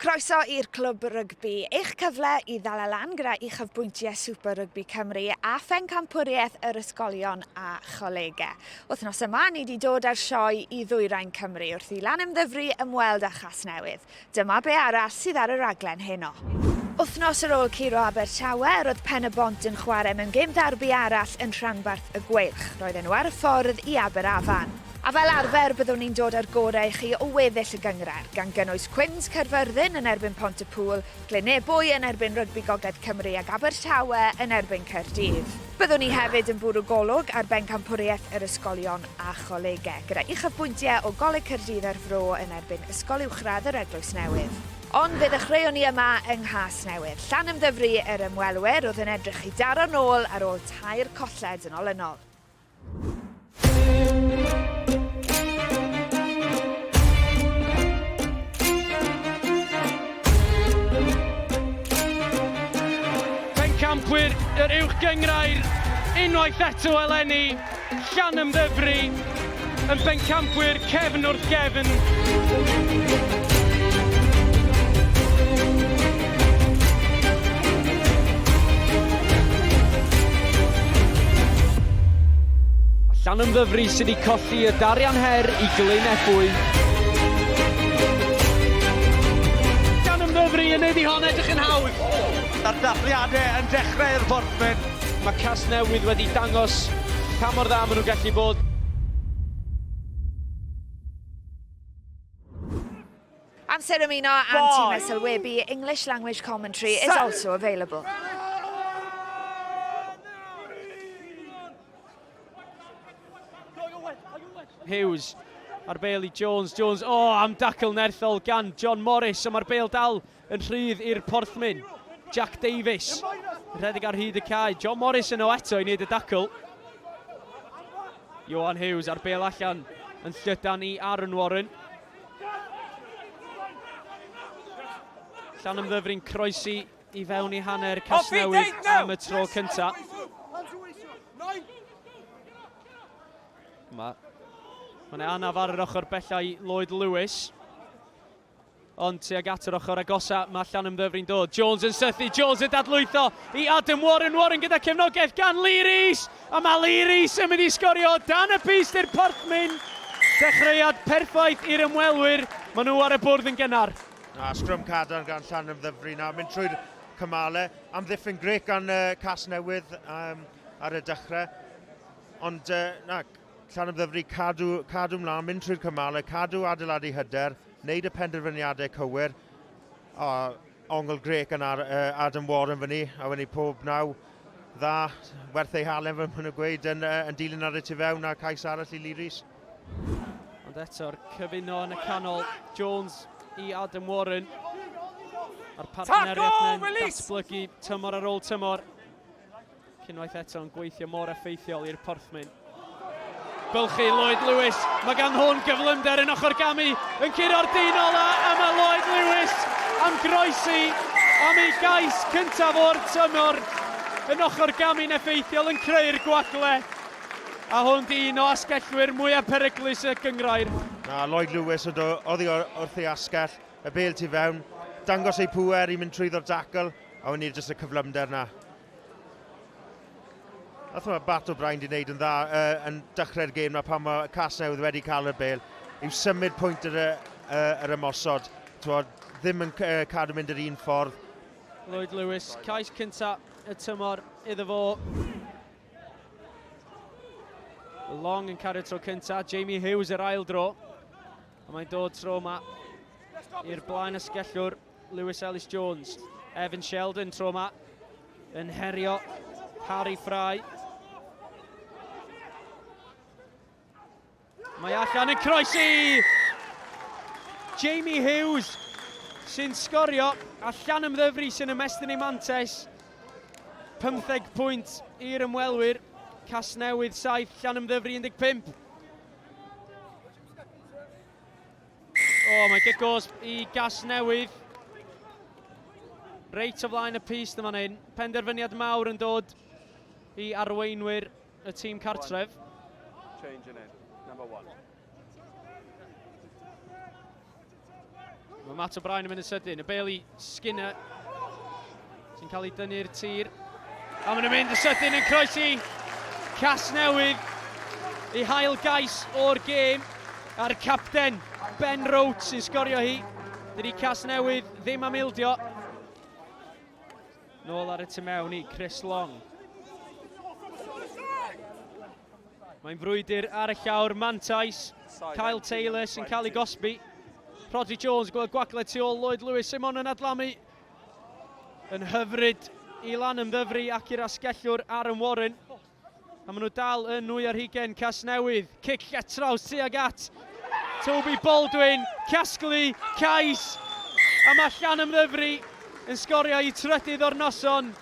Croeso i'r Clwb Rygbi, eich cyfle i ddala lan gyda uchafbwyntiau Super Rygbi Cymru a phencampwriaeth yr ysgolion a cholegau. Wythnos yma, ni wedi dod â'r sioe i ddwyrain Cymru wrth i lan ymddyfru ymweld â Chasnewydd. Dyma be arall sydd ar y raglen heno. Wythnos ar ôl curo Abertawe, roedd Pen-y-bont yn chwarae mewn gêm ddarbi arall yn rhanbarth y Gweilch. Roedden nhw ar y ffordd i Aberafan. A fel arfer, byddwn ni'n dod â'r gorau i chi o weddill y gynghrair, gan gynnwys Cwins Caerfyrddin yn erbyn Pont-y-pŵl, Glyn-ebwy yn erbyn Rygbi Gogledd Cymru ac Abertawe yn erbyn Caerdydd. Byddwn ni hefyd yn bwrw golwg ar bencampwriaeth yr ysgolion a cholegau, gyda uchafbwyntiau o Goleg Caerdydd a'r Fro yn erbyn Ysgol Uwchradd yr Eglwys Newydd. Ond fe ddechreuon ni yma yng Nghasnewydd, Llanymddyfri, yr ymwelwyr oedd yn edrych i daro'r nôl ar ôl tair colled yn olynol. Pencampwyr yr Uwch Gyngrair unwaith eto eleni, Llanymddyfri yn bencampwyr Cefn wrth gefn! A Llanymddyfri sydd wedi colli y darian her i Glyn Ebwy. Cymru yn neud i hon edrych yn hawdd. A'r dathliadau yn dechrau i'r Forthmen. Mae Casnewydd wedi dangos pa mor dda maen nhw'n gallu bod. Amser ymuno am ti mesel webu, English language commentary is also available. Hughes ar bel i Jones. Jones, o, oh, am dacl nerthol gan John Morris, ond mae'r bel dal Yn rhydd i'r porthmyn, Jack Davies. Yn rhedeg ar hyd y cae, John Morris yno eto i wneud y dacl. Johan Hughes ar bel allan yn llydan i Aaron Warren. Llan ymddyfrin croesi i fewn i hanner Casnewydd am y tro cyntaf. Mae Mae'n anaf ar yr ochr bellau Lloyd Lewis. Ond tuag at yr ochr agosa, mae Llanymddyfri'n dod. Jones yn sythu, Jones yn dadlwytho i Adam Warren, Warren gyda cefnogaeth gan Lee Rees, a mae Lee Rees yn mynd i sgorio dan y pys i'r Porthmyn. Dechreuad perffaith i'r ymwelwyr, maen nhw ar y bwrdd yn gynnar. A sgrym cadarn gan Llanymddyfri nawr, mynd trwy'r cymale. Amddiffyn grec gan uh, Cas Newydd um, ar y dechrau. Ond uh, na, Llanymddyfri, cadw, cadw mlaen, mynd trwy'r cymalau, cadw adeiladu hyder, wneud y penderfyniadau cywir. O, ongl grec yn ar uh, Adam Warren fyny, a wedyn pob naw dda, werth ei halen fy nhw'n gweud, yn, uh, yn dilyn ar y tu fewn a cais arall i Lee Rees. Ond eto'r cyfuno yn y canol, Jones i Adam Warren. A'r partneriaeth yn datblygu tymor ar ôl tymor. Ac unwaith eto yn gweithio mor effeithiol i'r porthmyn. Bylchu Lloyd Lewis, mae gan hwn gyflymder yn ochr gamu, yn curo'r dyn ola a mae Lloyd Lewis am groesi am ei gais cyntaf o'r tymor yn ochr gamu'n effeithiol yn creu'r gwagle. A hwn di un o asgellwyr mwyaf peryglus y gyngrair. Na, Lloyd Lewis o do, oddi wrth ei asgell, y bel tu fewn, dangos ei pŵer i mynd trwyddo'r dacl, a wn i'r jyst y cyflymder na. A thwa, Bat O'Brien di wneud yn dda uh, yn dechrau'r gêm na pan mae Casnewydd wedi cael y bel yw symud pwynt yr, uh, yr ymosod. Thwa, ddim yn uh, cadw mynd yr un ffordd. Lloyd Lewis, cais cynta y tymor iddo fo. Long yn cario tro cynta, Jamie Hughes yr ail dro. A mae'n dod tro yma i'r blaen y sgellwr Lewis Ellis Jones. Evan Sheldon tro yma yn herio Harry Fry. Mae allan yn croesi! Jamie Hughes sy'n sgorio allan ymddyfru sy'n ymestyn ei mantes. 15 pwynt i'r ymwelwyr. Casnewydd 7, Llanymddyfri 15. O, oh, mae Gigos i gas newydd. Reit o flaen y pist yma hyn. Penderfyniad mawr yn dod i arweinwyr y tîm cartref. Change in it, number one. Mae Matt O'Brien yn mynd yn sydyn. Y Bailey Skinner sy'n cael ei dynnu'r tir. A mae'n mynd yn sydyn yn croesi cas newydd i hael gais o'r gêm a'r capten Ben Roach sy'n sgorio hi. Dydy cas newydd ddim am ildio. Nôl ar y tu mewn i Chris Long. Mae'n frwydr ar y llawr, Mantais, Kyle Taylor sy'n cael ei gosbi. Rodri Jones, gweld gwagled tu ôl Lloyd Lewis, Simon yn adlamu. Yn hyfryd i lan ymddyfru ac i'r asgellwr Aaron Warren. A maen nhw dal yn nwy ar hugen Casnewydd. Cic lletraws tuag at Toby Baldwin, casglu, cais. A mae Llan Ymddyfri yn sgorio i trydydd o'r noson.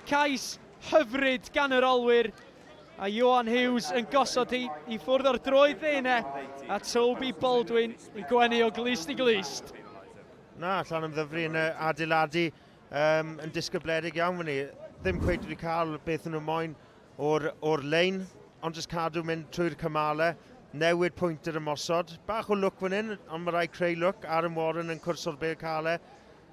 Cais hyfryd gan yr olwyr. A Johan Hughes yn gosod i, i ffwrdd o'r droed ddeine. A Toby Baldwin yn gwenu o glist i glist. Na, Llan Ymddyfri yn adeiladu Um, yn disgybledig iawn fan ni. Ddim cweith wedi cael beth nhw'n moyn o'r, or lein, ond jyst cadw mynd trwy'r cymalau, newid pwynt yr ymosod. Bach o lwc fan hyn, ond mae rai creu lwc. Aaron Warren yn cwrs o'r bel calau.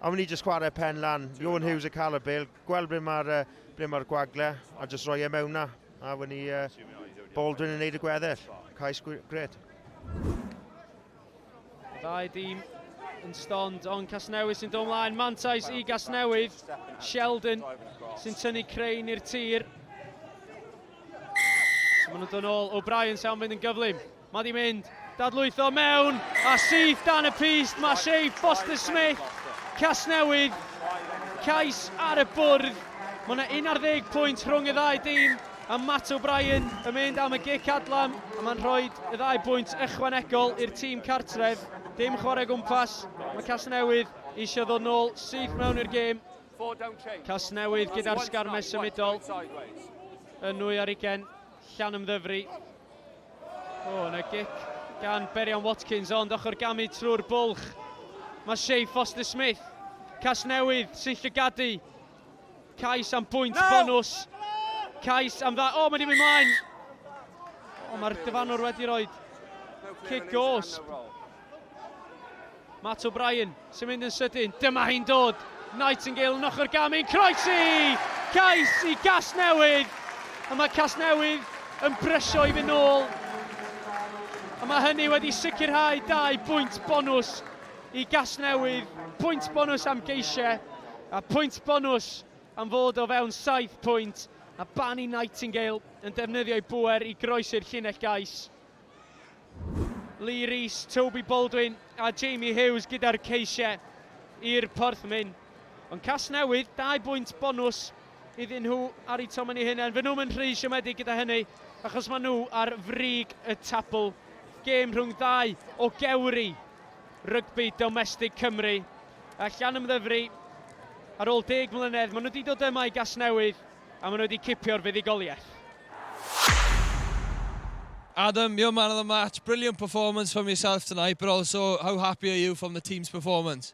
A ni jyst chwarae pen lan. Iwan Hughes yn cael y bel, gweld ble mae'r uh, ble mae'r gwagle, a jyst roi e mewn na. A fan ni uh, Baldwin yn neud y gweddill. Cais gret. Ddau dîm yn stond, ond Casnewydd sy'n dod ymlaen. Mantais i Gasnewydd. Sheldon sy'n tynnu Crane i'r tir. So maen nhw'n dod ôl. O'Brien sy'n mynd yn gyflym. Mae di mynd. Dadlwytho mewn. A syth dan y pist. Mae Shea Foster Smith. Casnewydd. Cais ar y bwrdd. Mae yna 11 pwynt rhwng y ddau dîm. A Matt O'Brien yn mynd am y gic adlam a mae'n rhoi y ddau bwynt ychwanegol i'r tîm cartref. Dim chwarae o gwmpas, mae Casnewydd eisiau ddod nôl syth mewn i'r gêm. Casnewydd gyda'r sgarmes symudol yn nwy ar ugen, llan ymddyfri. O, oh, yna gic gan Berian Watkins, ond ochr gamu trwy'r bwlch. Mae Shay Foster Smith, Casnewydd, sy'n llygadu Cais am bwynt bonus. Cais am dda... O, oh, mae wedi mynd mlaen. O, oh, mae'r dyfanwr wedi rhoi cic os. Matt O'Brien sy'n mynd yn sydyn. Dyma hi'n dod. Nightingale yn ochr gamin. Croesi! Cais i Casnewydd. A mae Casnewydd yn brysio i fynd nôl. A mae hynny wedi sicrhau dau bwynt bonus I Gasnewydd, pwynt bonws am geisiau a pwynt bonws am fod o fewn saith pwynt, a Barney Nightingale yn defnyddio'i bŵer i groesi'r llinell gais. Lee Rees, Toby Baldwin a Jamie Hughes gyda'r ceisiau i'r Porthmyn. Ond Casnewydd, dau bwynt bonws iddyn nhw ar eu tomyn eu hunain. Fy nhw'n yn rhy siomedig gyda hynny, achos maen nhw ar frig y tabl. Gêm rhwng ddau o gewri Rygbi domestig Cymru a Llanymddyfri. Ar ôl deg mlynedd, maen nhw wedi dod yma i Gasnewydd a maen nhw wedi cipio'r fuddugoliaeth. Adam, you're man of the match, brilliant performance from yourself tonight, but also how happy are you from the team's performance?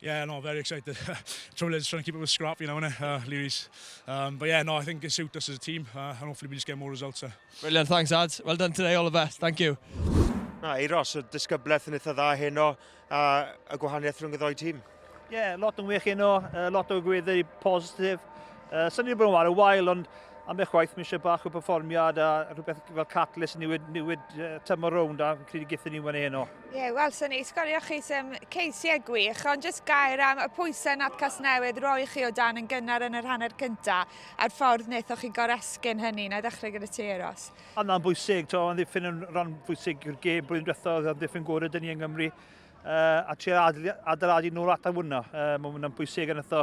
Yeah, no, very excited. Trouble is trying to keep up with Scrap, you know, innit? Uh, Leary's. Um, but yeah, no, I think it suits us as a team, uh, and hopefully we just get more results. Uh. Brilliant, thanks, Ad. Well done today, all the best. Thank you. Na, Eiros, y disgyblaeth yn eitha dda heno, a y gwahaniaeth rhwng y ddoi tîm. Ie, yeah, lot yn wych heno, uh, lot o gwyddi positif. Uh, Sa'n ni'n bod yn wario wael, ond am eich waith mi eisiau bach o performiad a rhywbeth fel catalyst niwyd, niwyd uh, tymor rownd a credu gyda ni wedi heno. Ie, yeah, wel, sy'n ei sgorio chi sy'n ceisiau gwych, ond jyst gair am y pwysau nad Casnewydd roi chi o dan yn gynnar yn yr hanner cynta, a'r ffordd wnaethoch chi goresgyn hynny, na i ddechrau gyda ti, Eros. Yna'n bwysig, to, yn ddiffyn yn rhan bwysig i'r gêm blwyddyn diwethaf, oedd yn ddiffyn gore dyn ni yng Nghymru, uh, a tri adeiladu nôl at a wna. Uh, Mae'n bwysig yn ytho,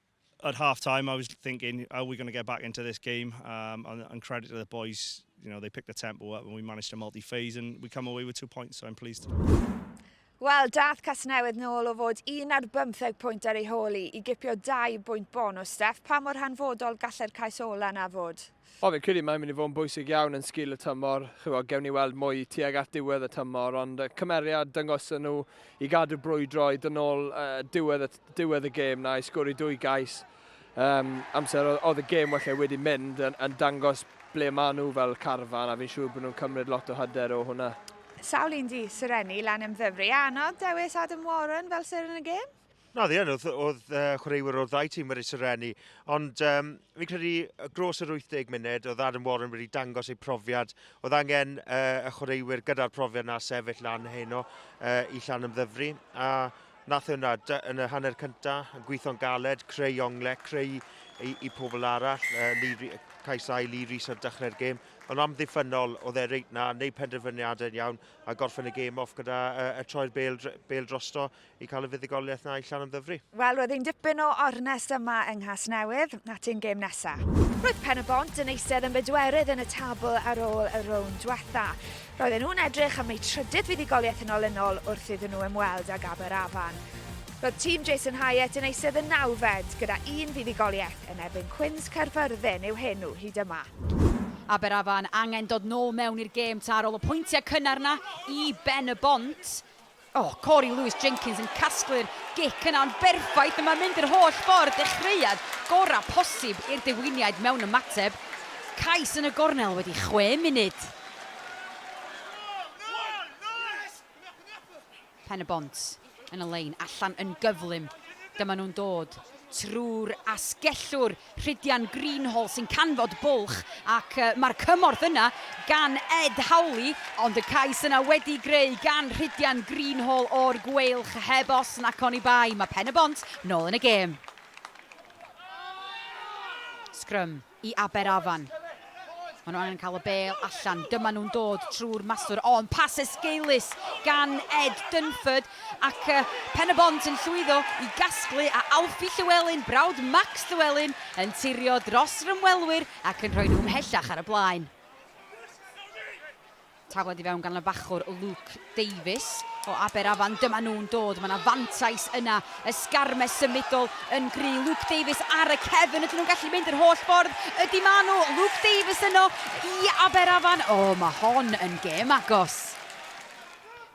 At half time, I was thinking, are we going to get back into this game? Um, and, and credit to the boys, you know, they picked the tempo up and we managed to multi-phase and we come away with two points, so I'm pleased. Wel, dath Casnewydd nôl o fod un ar bymtheg pwynt ar ei hôl i i gipio dau bwynt bonus, Steff. Pa mor hanfodol gallai'r cais ola yna fod? O fi'n credu mae'n mynd i fod yn bwysig iawn yn sgil y tymor, chywod, gewn ni weld mwy tuag at diwedd y tymor, ond y cymeriad dyngoson nhw i gadw brwydro i dynol uh, diwedd, y, diwedd y gêm na i sgwri dwy gais um, amser oedd y gêm wella wedi mynd yn, yn dangos ble maen nhw fel carfan a fi'n siŵr bod nhw'n cymryd lot o hyder o hwnna. Sawl un di Serenni lan ymddyfru a annog dewis Adam Warren fel seren y gêm? Na, ddi yn, oedd, oedd uh, chwaraewyr o'r ddau tîm wedi serennu, ond um, fi'n credu gros yr 80 munud, oedd Adam Warren wedi dangos ei profiad, oedd angen uh, y chwaraewyr gyda'r profiad na sefyll lan heno uh, i llan ymddyfru, a nath e hwnna yn y hanner cyntaf, yn gweithio'n galed, creu ongle, creu i, i pobl arall, uh, Lee, cais ai Lee Rees ar dechrau'r gêm, ond am ddiffynol oedd e reit na, neu penderfyniadau yn iawn, a gorffen y gêm off gyda uh, y troi'r bel, bel drosto i cael y fuddugoliaeth na i Llanymddyfri. Wel, roedd ein dipyn o ornest yma yng Nghasnewydd, at ein gêm nesa. Roedd Pen y Bont yn eistedd yn bedwerydd yn y tabl ar ôl y rownd diwetha. Roedden nhw'n edrych am eu trydydd fuddugoliaeth yn olynol wrth iddyn nhw ymweld ag Aberafan. Roedd tîm Jason Hyatt yn eistedd yn nawfed gyda un fuddugoliaeth yn erbyn Cwins Caerfyrddin yw henw hyd yma. Aberafan angen dod nôl mewn i'r gêm ta ar ôl y pwyntiau cynnar 'na i Ben y Bont. O, Cory Lewis Jenkins yn casglu'r gic yna, ond berffaith y mae'n mynd yr holl ffordd, dechreuad gorau posib i'r Dewiniaid mewn ymateb. Cais yn y gornel wedi chwe munud. Pen-y-bont yn y lein allan yn gyflym. Dyma nhw'n dod trwy'r asgellwr. Rhydian Greenhalgh sy'n canfod bwlch ac mae'r cymorth yna gan Ed Howley, ond y cais yna wedi'i greu gan Rhydian Greenhalgh o'r Gweilch heb os nac oni bai. Mae Pen-y-bont nôl yn y gêm. Sgrym i Aberafan. Maen nhw angen cael y bel allan. Dyma nhw'n dod trwy'r maswr. O, yn pas esgeulus gan Ed Dunford. Ac uh, pen y bont yn llwyddo i gasglu a Alfie Llywelyn, brawd Max Llywelyn, yn tirio dros rymwelwyr ac yn rhoi nhw ymhellach ar y blaen. Tafled i fewn gan y bachwr Luke Davies o Aberafan. Dyma nhw'n dod, mae yna fantais yna. Ysgarmes symudol yn gry. Luke Davies ar y cefn, ydyn nhw'n gallu mynd yr holl ffordd? Ydy ma nhw, Luke Davies yno i Aberafan. O, mae hon yn gêm agos.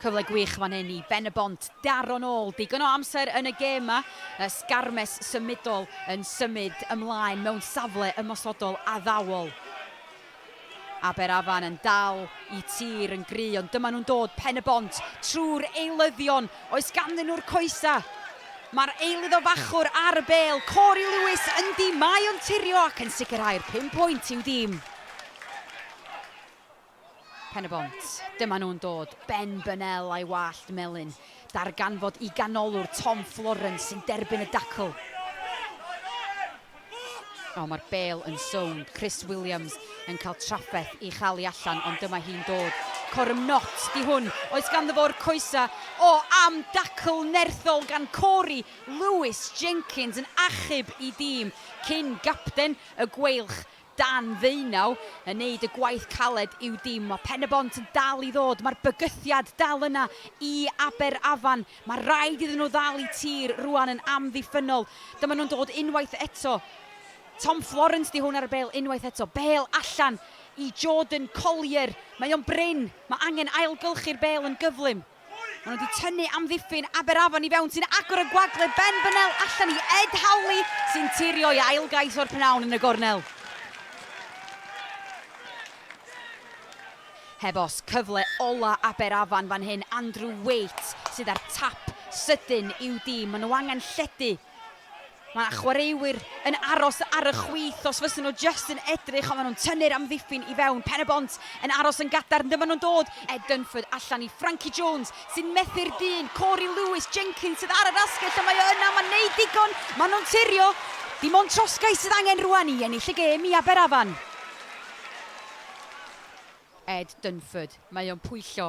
Cyfle gwych fan hyn i Ben y Bont daro nôl digon o amser yn y gêm ma. Ysgarmes symudol yn symud ymlaen mewn safle ymosodol addawol. Aberafan yn dal i tir yn gry ond dyma nhw'n dod, Pen-y-bont, trwy'r eilyddion, oes ganddyn nhw'r coesa? Mae'r eilydd o Fachwr ar y bêl, Cory Lewis ynddi, mae o'n tirio ac yn sicrhau'r pum pwynt i'w dîm. Pen-y-bont, dyma nhw'n dod, Ben Burnell a'i wallt melyn, darganfod i ganolwr Tom Florence sy'n derbyn y dacl. O, mae'r bêl yn sownd. Chris Williams yn cael trafferth i chael i allan, ond dyma hi'n dod. Corum Nott, di hwn. Oes ganddo fo'r coesa? O, am dacl nerthol gan Cory Lewis Jenkins yn achub i dîm cyn gapten y Gweilch dan ddeunaw yn neud y gwaith caled i'w dim. Mae Pen-y-bont yn dal i ddod, mae'r bygythiad dal yna i Aberafan. Mae rhaid iddyn nhw ddal i tir rwan yn amddiffynnol. Dyma nhw'n dod unwaith eto. Tom Florence 'di hwn ar y bêl unwaith eto. Bêl allan i Jordan Collier. Mae o'n brin. Mae angen ailgylchu'r bêl yn gyflym. Maen nhw wedi tynnu amddiffyn Aberafan i fewn sy'n agor y gwagle Ben Bennell allan i Ed Howley sy'n tirio i ail gais o'r pnawn yn y gornel. Heb os, cyfle ola Aberafan fan hyn, Andrew Waite sydd â'r tap sydyn i'w dîm. Maen nhw angen lledu. Mae chwaraewyr yn aros ar y chwith os fysen nhw jyst yn edrych ond maen nhw'n tynnu'r amddiffyn i fewn, Pen-y-bont yn aros yn gadarn, dyma nhw'n dod, Ed Dunford allan i Frankie Jones sy'n methu'r dyn, Cory Lewis, Jenkins sydd ar yr asgell a mae o yna, mae'n neud digon, maen nhw'n turio, dim ond trosgais sydd angen rwan i ennill y gêm i Aberafan. Ed Dunford, mae o'n pwyllo,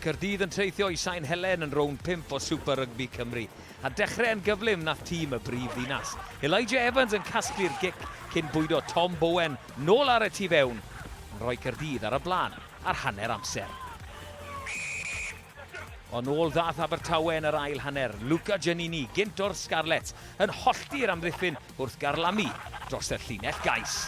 Caerdydd yn treithio i Sain Helen yn rownd 5 o Super Rygbi Cymru. A dechrau yn gyflym na tîm y brif ddinas. Elijah Evans yn casglu'r gic cyn bwydo Tom Bowen nôl ar y tu fewn. Yn rhoi Caerdydd ar y blaen ar hanner amser. Ond ôl ddath Abertawe yn yr ail hanner. Luca Giannini, gynt o'r Scarlets, yn hollti'r amddiffyn wrth garlamu dros y llinell gais.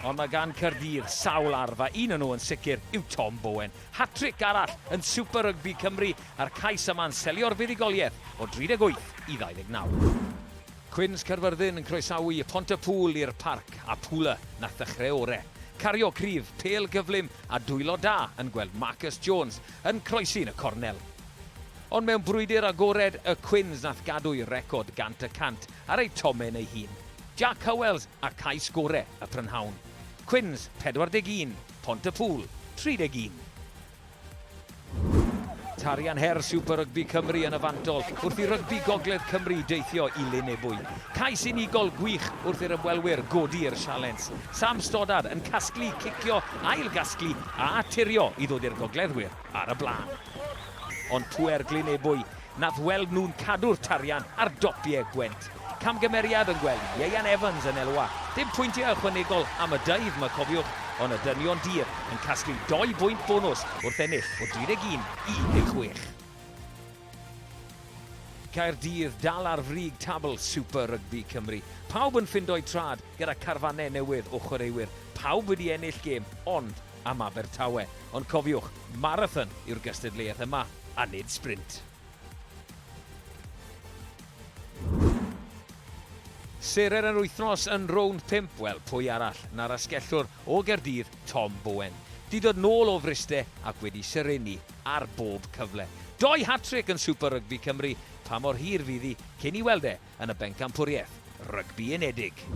Ond mae gan Caerdydd sawl arf a un o nhw yn sicr yw Tom Bowen. Hat-tric arall yn Super Rygbi Cymru a'r cais yma'n selio'r fuddugoliaeth o 38 i 29. Cwins Caerfyrddin yn croesawu y Pont-y-pŵl i'r Parc a Pula nath ddechreu ore. Cario cryf, pêl gyflym a dwylo da yn gweld Marcus Jones yn croesi'n y cornel. Ond mewn brwydr agored y Quins nath gadw'i record gant y cant ar ei tomen ei hun, Jac Howells a cais gore y prynhawn. Quins, 41, Pontypŵl, 31. Tarian her Super Rygbi Cymru yn y fantol wrth i rygbi Gogledd Cymru deithio i Lyn Ebwy. Cais unigol gwych wrth i'r ymwelwyr godi i'r sialens. Sam Stoddard yn casglu, cicio, ail-gasglu a turio i ddod i'r gogleddwyr. ar y blaen. Ond pŵer Glyn Ebwy nath weld nhw'n cadw'r tarian ar dopiau Gwent. Camgymeriad yn gweld Ieuan Evans yn elwa. Dim pwyntiau ychwanegol am y dydd 'ma cofiwch, ond y dynion dir yn casglu dou bwynt bonws wrth ennill o 31 i 16. Caerdydd dal ar frig tabl Super Rygbi Cymru. Pawb yn ffindo'u trad gyda carfannau newydd o chwaraewyr. Pawb wedi ennill gêm, ond am Abertawe, ond cofiwch, marathon yw'r gystadleuaeth yma a nid sprint. Serer yr wythnos yn rownd 5, wel pwy arall na'r asgellwr o Gaerdydd, Tom Bowen. Di dod nôl o Fryste ac wedi serennu ar bob cyfle. Doi hat-trick yn Super Rygbi Cymru, pa mor hir fydd hi cyn i weld e yn y Bencampwriaeth Rygbi Unedig.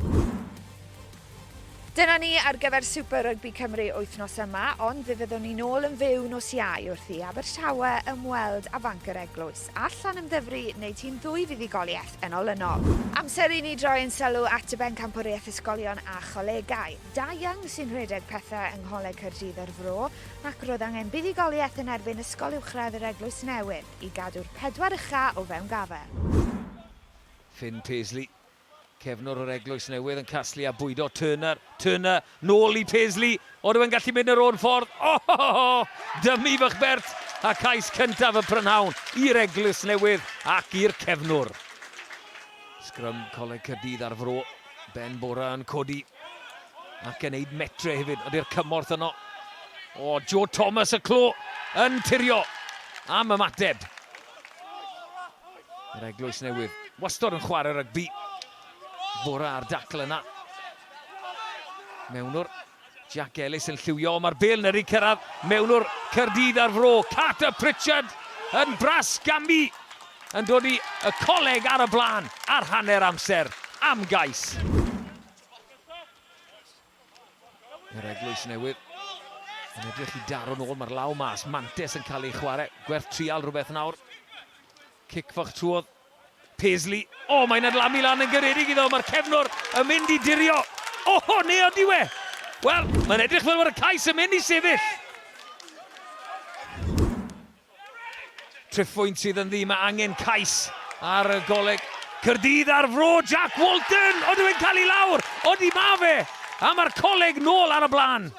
Dyna ni ar gyfer Super Rugby Cymru wythnos yma, ond fe fyddwn ni'n ôl yn fyw nos iau wrth i Abertawe ymweld a fanc yr eglwys. Allan ymddyfru neu tîm ddwy fuddugoliaeth yn olynol. Amser i ni droi yn sylw at y bencampwriaeth ysgolion a cholegau. Da Young sy'n rhedeg pethau yng Ngholeg Caerdydd o'r Fro, ac roedd angen buddugoliaeth yn erbyn Ysgol Uwchradd yr Eglwys Newydd. i gadw'r pedwar ucha o fewn gafael. Finn Paisley, cefnwr o'r Eglwys Newydd yn casglu a bwydo Turner, Turner, nôl i Paisley, oedd e'n gallu mynd yr o'r ffordd, ohohoho, dymu fach bert a cais cyntaf y prynhawn i'r Eglwys Newydd ac i'r cefnwr. Sgrym Coleg Caerdydd ar fro, Ben Bora yn codi. Ac yn neud metre hefyd, ond i'r cymorth yno. O, Joe Thomas y clo yn tirio am ymateb. Yr eglwys newydd, wastod yn chwarae rygbi. Fora ar dacl yna. Mewnwr Jack Ellis yn lliwio, mae'r bel yn yrru cyrraedd mewnwr Cyrdydd ar fro. Carter Pritchard yn bras gamu yn dod i y coleg ar y blaen ar hanner amser am Gais. Yr eglwys newydd yn edrych i daro'n ôl, mae'r law mas, Mantes yn cael ei chwarae, gwerth trial rhywbeth nawr. Cic fach trwodd, Paisley, o oh, mae'n adlamu lan yn gyredig iddo, mae'r cefnwr yn mynd i dirio, o oh, neu o diwe! Wel, mae'n edrych fel bod y cais yn mynd i sefyll. Triphwynt sydd yn ddu, mae angen cais ar y Goleg Caerdydd ar fro, Jack Walton! Odyw e'n cael i lawr? Odi ma fe! A mae'r Coleg nôl ar y blaen!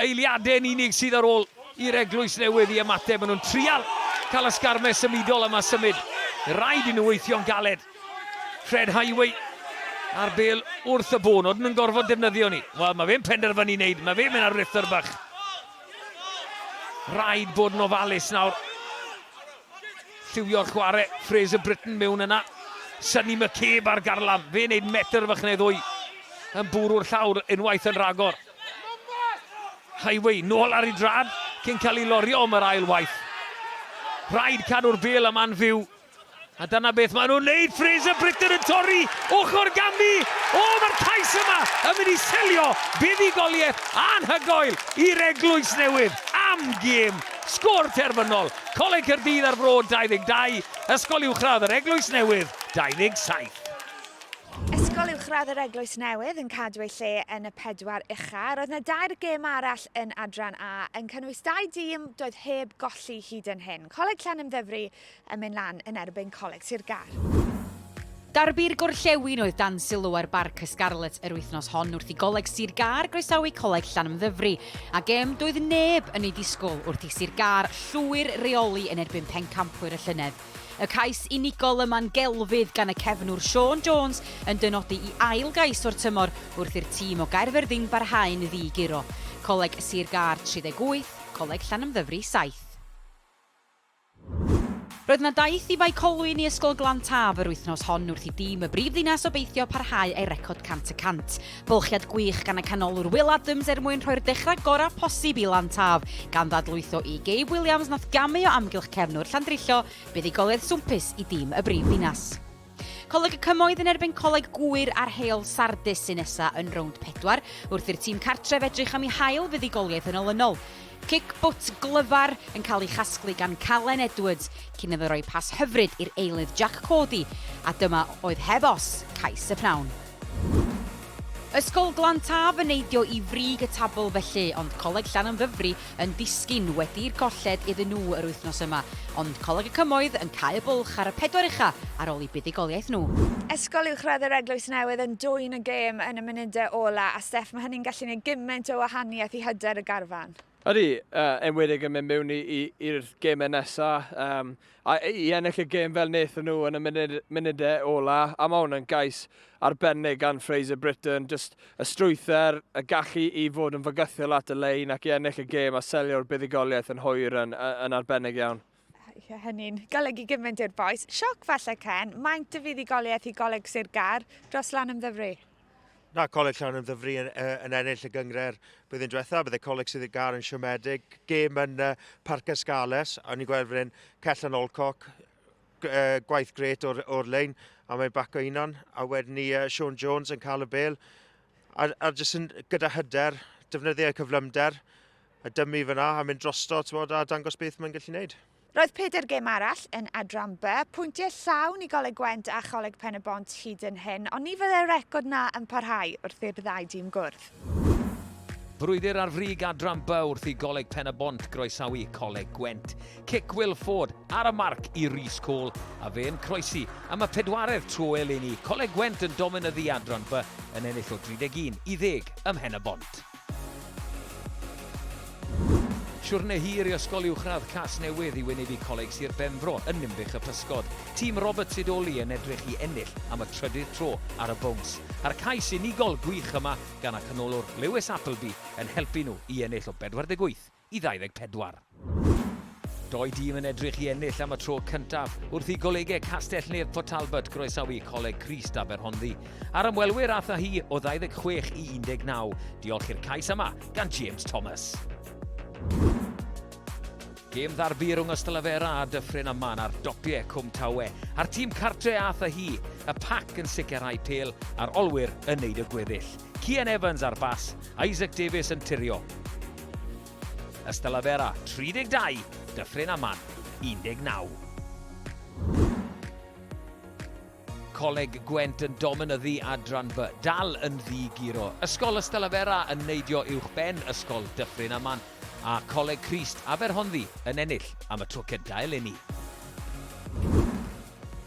Eiliadau yn unig sydd ar ôl i'r Eglwys Newydd i ymateb, maen nhw'n trial cael y sgarmes symudol yma symud. Rhaid i nhw weithio'n galed. Fred Highway a'r bel wrth y bôn, oedden nhw'n gorfod defnyddio ni. Wel, mae fe'n penderfynu wneud, mae fe'n mynd ar rythr bach. Rhaid bod yn ofalus nawr. Lliwio'r chwarae, Fraser Britton mewn yna. Sonny McCabe ar garlam, fe wneud metr fach neu ddwy. Yn bwrw'r llawr unwaith yn rhagor. Highway, nôl ar ei drad, cyn cael ei lorio am yr ail waith. Rhaid cadw'r bel yma'n fyw A dyna beth maen nhw'n neud, Fraser Britton yn torri ochr ganddi. O, mae'r cais yma yn mynd i selio buddugoliaeth anhygoel i'r eglwys newydd am gêm. Sgôr terfynol, Coleg Caerdydd ar Fro 22, Ysgol Uwchradd yr Eglwys Newydd 27. Ysgol Uwchradd yr Eglwys Newydd yn cadw ei lle yn y pedwar ucha. Roedd yna dair gêm arall yn Adran A yn cynnwys dau dîm doedd heb golli hyd yn hyn. Coleg Llanymddyfri yn mynd lan yn erbyn Coleg Sir Gâr. Derby'r Gorllewin oedd dan sylw ar Barc y Scarlets yr wythnos hon wrth i Goleg Sir Gâr groesawu Coleg Llanymddyfri, a gêm doedd neb yn ei disgwyl wrth i Sir Gâr llwyr reoli yn erbyn pencampwyr y llynedd. Y cais unigol yma'n gelfydd gan y cefnwr Sean Jones yn dynodi i ail gais o'r tymor wrth i'r tîm o Gaerfyrddin barhau'n ddi-guro. Coleg Sir Gâr 38, Coleg Llanymddyfri 7. Roedd yna daith i Fae Colwyn i Ysgol Glan Taf yr wythnos hon wrth i dîm y brif ddinas obeithio parhau â'i record 100 y 100. Bylchiad gwych gan y canolwr Will Adams er mwyn rhoi'r dechrau gorau posib i Lan Taf, gan ddadlwytho i Gabe Williams nath gamu o amgylch cefnwr Llandrillo buddugoliaeth swmpus i dîm y brif ddinas. Coleg y Cymoedd yn erbyn Coleg Gŵyr a'r Heol Sardis sy'n nesa yn rownd pedwar, wrth i'r tîm cartref edrych am ei hail fuddugoliaeth yn olynol. Cic bwt glyfar yn cael ei chasglu gan Calen Edwards cyn iddo roi pas hyfryd i'r eilydd Jack Cody, a dyma oedd heb os, cais y pnawn. Ysgol Glan Taf yn neidio i frig y tabl felly, ond Coleg Llanymddyfri yn disgyn wedi i'r golled iddyn nhw yr wythnos yma, ond Coleg y Cymoedd yn cau y bwlch ar y pedwar ucha' ar ôl i buddugoliaeth nhw. Ysgol Uwchradd yr Eglwys Newydd yn dwyn y gêm yn y munudau ola' a Steff ma' hynny'n gallu neud gyment o wahaniaeth i hyder y garfan. Ydy, yn enwedig yn mynd mewn i'r gemau nesaf. Um, a i ennill y gem fel wnaethon nhw yn y munud, munudau ola, a mae hwn yn gais arbennig gan Fraser Britton, just y strwyther, y gallu i fod yn fygythiol at y lein ac i ennill y gem a selio'r buddugoliaeth yn hwyr yn, yn arbennig iawn. Ie, hynny'n golygu gymaint i'r bois. Sioc falle, Ken, maent y fuddugoliaeth i Goleg Sir Gar dros lan ymddyfru? Na, Coleg Llan yn ddyfru yn, yn ennill y gyngred blwyddyn diwetha. Bydde Coleg sydd y gar yn siomedig. Gêm yn uh, Parc Ysgales. A ni'n gweld fan Cell yn Olcoc. Uh, gwaith gret o'r, or lein. A mae'n bac o unan. A wedyn ni uh, Sean Jones yn cael y bel. A, a jyst yn, gyda hyder, defnyddio cyflymder. a dymu fyna a mynd drosto tmod, a dangos beth mae'n gallu wneud. Roedd pedair gêm arall yn Adran B, pwyntiau llawn i Goleg Gwent a Choleg Pen-y-bont hyd yn hyn, ond ni fyddai'r record 'na yn parhau wrth i'r ddau dîm gwrdd. Brwydr ar frig Adran B wrth i Goleg Pen-y-bont groesawu Coleg Gwent. Cic Will Ford ar y marc i Rhys Cole, a fe yn croesi am y pedwaredd tro eleni. Coleg Gwent yn dominyddu Adran B yn ennill o 31 i ddeg ym Mhen-y-bont. Siwrne hir i Ysgol Uwchradd Casnewydd i wynebu Coleg Sir Benfro yn Ninbych y Pysgod. Tîm Robert Sidoli yn edrych i ennill am y trydydd tro ar y bowns. A'r cais unigol gwych yma gan y canolwr Lewis Appleby yn helpu nhw i ennill o 48. i 24. Doi dîm yn edrych i ennill am y tro cyntaf wrth i golegau Castell-nedd Port Talbot groesawu Coleg Crist Aberhonddu a'r ymwelwyr ath â hi o 26 i 19, diolch i'r cais yma gan James Thomas. Gêm ddarbu rhwng Ystalyfera a Dyffryn Aman ar dopiau Cwm Tawe, a'r tîm cartre ath â hi, y pac yn sicrhau pel a'r olwyr yn neud y gweddill. Cian Evans ar bas, Isaac Davies yn tirio. Ystalyfera, 32, Dyffryn Aman, 19. Coleg Gwent yn dominyddu adran B, dal yn ddi-guro. Ysgol Ystalyfera yn neidio uwchben Ysgol Dyffryn Aman, a Coleg Crist Aberhonddu yn ennill am y tro cyntaf eleni.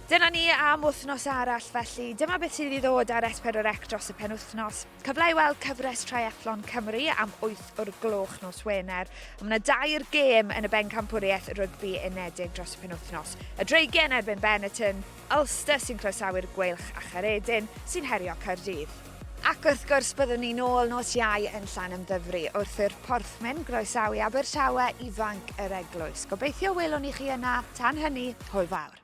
Dyna ni am wythnos arall felly. Dyma beth sydd i ddod ar S4C dros y penwythnos. Cyfle i weld cyfres Triathlon Cymru am 8 o'r gloch nos Wener. Mae yna dair gêm yn y bencampwriaeth rygbi unedig dros y penwythnos. Y Dreigen erbyn Benetton, Ulster sy'n croesawu'r Gweilch a Charedin sy'n herio Caerdydd. Ac wrth gwrs byddwn ni'n ôl nos Iau yn Llan Ymddyfri wrth i'r Porthmen groesawu Abertawe ifanc yr Eglwys. Gobeithio welwn ni chi yna, tan hynny, hwyl fawr.